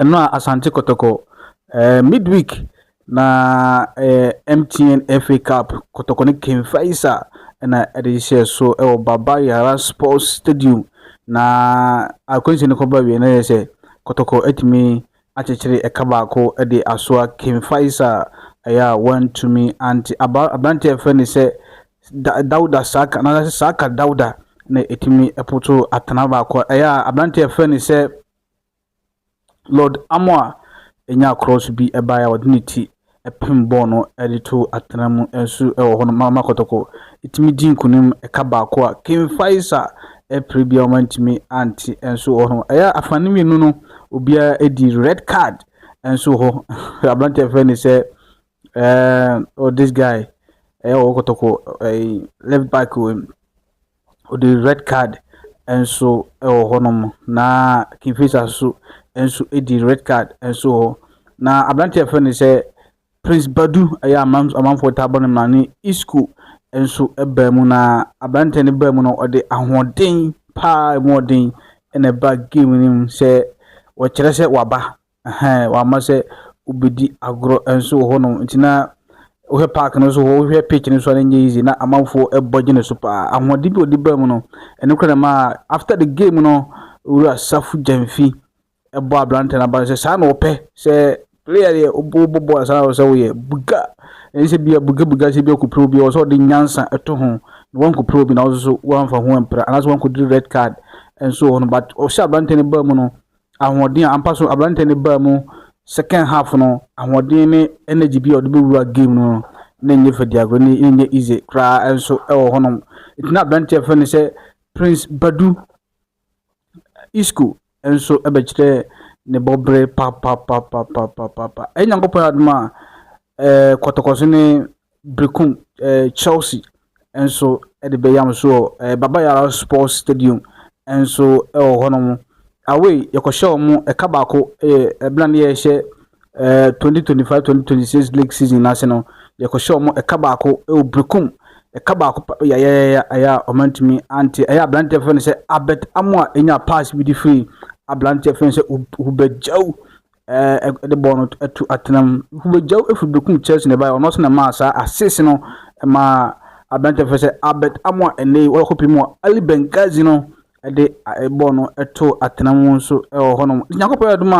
Ɛno a Asante Kɔtɔkɔ. Eh, midweek na eh, MTN FA Cup Kɔtɔkɔ ne Ken Faisa na ɛde hyɛ so wɔ Baba Yara Sports Stadium na akwanhyɛ no kɔba wie na yɛ sɛ Kɔtɔkɔ atumi akyekyere ɛka baako de asoa Ken Faisa ɛyɛ a wantumi ante aberante a ɛfrɛ ne sɛ Dauda Saka na Saka Dauda na ɛtumi ɛpoto atena baako ɛyɛ a aberante a ɛfrɛ ne sɛ Lord Amoah nyaa krɔɔso bi baeɛ a ɔde ne ti pem bɔɔl no de too atena mu nso wɔ hɔ no ma ma Kɔtɔkɔ tumi di nkunim ɛka baako a King Faisa pere biara wɔantumi ante nso wɔ hɔ no. Ɛyɛ afa no mmienu no obiara di red card nso wɔ hɔ. Aberanteɛ fɛ ne sɛ ɛɛ oh this guy ɛyɛ wɔ Kɔtɔkɔ ɛɛ left back wɔ mu. wɔde red card nso wɔ hɔnom, na Kingfisher nso nso di red card nso wɔ hɔ. Na aberanteɛ a yɛfrɛ no sɛ Prince Badu ɛyɛ amam amanfoɔ taa bɔ no mmara ne Isco nso baa mu na aberanteɛ no baa mu no ɔde ahoɔden paa mu ɔden na ɛba game no mu sɛ wɔkyerɛ sɛ waba Ɛhɛn, wama sɛ wobedi agorɔ nso wɔ hɔnom. Nti na wohwɛ park no so hɔ, wohwɛ pitch no so a na ɛnyɛ easy. Na amanfoɔ bɔ gyene so paa. Ahoɔden bi a wɔde baa mu no, ɛno koraa na ɛmaa after the game no, Owura Safu Gyamfi bɔɔ aberanteɛ no abaa sɛ saa na ɔpɛ sɛ player deɛ wobɔ bɔɔl saa na ɔsɛ woyɛ buga. Ɛnyɛ sɛ bia buga buga sɛ bia kɔpira obi, ɔsɛ ɔde nyansa ɛto ho na wankɔpira obi na ɔso so wamfa ho ampira anaasɛ wankɔdiri red card nso wɔ hɔ no but ɔhyɛ aberanteɛ no baa mu no ahoɔden a ampa so aberanteɛ no baa mu second half no ahoɔden ne energy bi a ɔde bɛwura game no na ɛnyɛ fadiagorɔ ne ɛnyɛ easy koraa nso ɛwɔ hɔnom nti na aberanteɛ fɛ no sɛ prince badu isco nso ɛbɛkyerɛ ne bɔbere papapapapapapa ɛyɛ nyankopɔn adom a ɛɛ kɔtɔkɔso ne Berekum Chelsea nso de bɛyam nso wɔ eh, Baba Yara Sports Stadium nso wɔ hɔnom. Away, yɛkɔhyɛ wɔn ɛka baako yɛ ɛbena ne yɛhyɛ eh, 2025-2026 league season no ase no, yɛkɔhyɛ wɔn ɛka baako wɔ Berekum. Ɛka baako pa yayayaya ɛyɛ a ɔmantumi ante. Ɛyɛ aberanteɛ fɛ no sɛ Albert Amoa ɛnya pass bi de firi aberanteɛ fɛ no sɛ Ubejau ɛɛ de bɔɔl no to atena mu. Nkubagyaw firi benkum kyɛrɛse na ɛbaeɛ. Ɔno nso na ɛmaa saa assist no maa aberanteɛ fɛ sɛ Albert Amoa ɛnɛ yi wɔkɔ pii mu a Ali Benghazi no ɛde bɔɔl no to atena mu nso ɛwɔ hɔnom. Nyankopɔn adum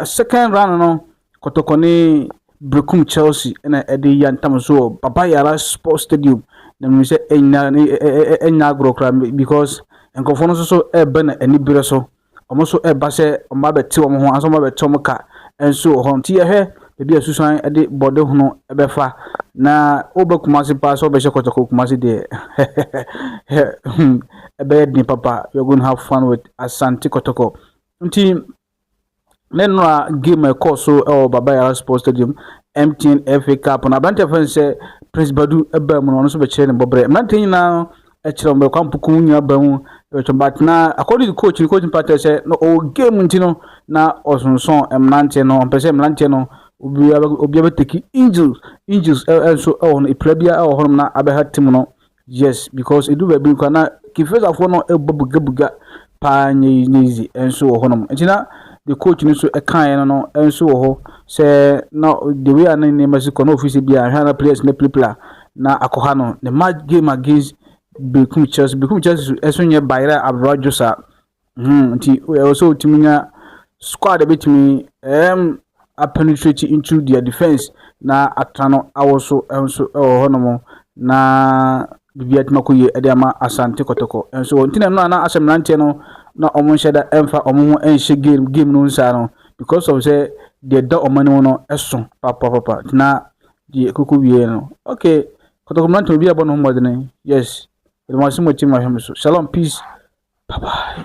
a second round no Kɔtɔkɔ ne Brekum Chelsea ɛna ɛde yɛ ntam so wɔ Baba Yara Sports Stadium na mmiri sɛ ɛnya ɛnya agorɔ koraa because nkurɔfoɔ no nso so ɛreba na ani berɛ so. wɔn nso reba sɛ wɔn abɛte wɔn ho anso wɔn abɛte wɔn ka nso wɔ hɔ. Nti yɛhwɛ baabi a susan de bɔde hono bɛfa na wobɛ kumase paa sɛ wobɛhyɛ kɔtɔkɔ kumase deɛ ɛbɛyɛ den papa you're going to have fun with asante kɔtɔkɔ nti Ne nnora game a ɛkɔɔ so wɔ Baba Yara Sports Stadium MTN FA Cup no, aberanteɛ fɛn sɛ Prince Badu baa mu no, ɔno nso bɛkyerɛ ne bɔberɛ. Mmeranteɛ nyinaa ɛkyerɛ wɔn kwan puku nyinaa baa mu ɛbɛtwɛn, but na according to coach no, coach no patɛ sɛ na ɔwɔ game nti no na ɔsonsɔn mmeranteɛ no, ɔmpɛ sɛ mmeranteɛ no obiara bɛteki injuries, injuries nso wɔ hɔ no, epira biara wɔ hɔ nom na abɛha team no Yes because edu baabi no koraa na Kifesafoɔ no bɔ bugabuga paa nyɛ yi nyɛ yizi nso wɔ hɔnom nti na the coach no nso kaeɛ no no nso wɔ hɔ sɛ na the way a ne nneɛma si kɔ na ofiri sɛ bi a ahwɛ na players no pilipila na akɔha no ne match game against Bekum Chelsea Bekum Chelsea so ɛso nyɛ bayerɛ abrabadwo saa Hmm, nti ɛwɔ sɛ wotumi nya squad a bɛtumi um, apenetrate into their defense na atra no awo so nso wɔ hɔnom na biribi atumi akɔ yie de ama asante kɔtɔkɔ nso wɔ nti na ɛno a na asɛ mmeranteɛ no na wɔn nhyɛ da ɛmfa wɔn ho nhyɛ game game no nsaa no because of sɛ deɛ ɛda wɔn anim no ɛso papapapa na deɛ koko wie no okay Kotoko mmerante obi a ɛbɔ ne ho mmɔdene yes meda mo ase mo team ahwɛ me so shalom peace bye bye.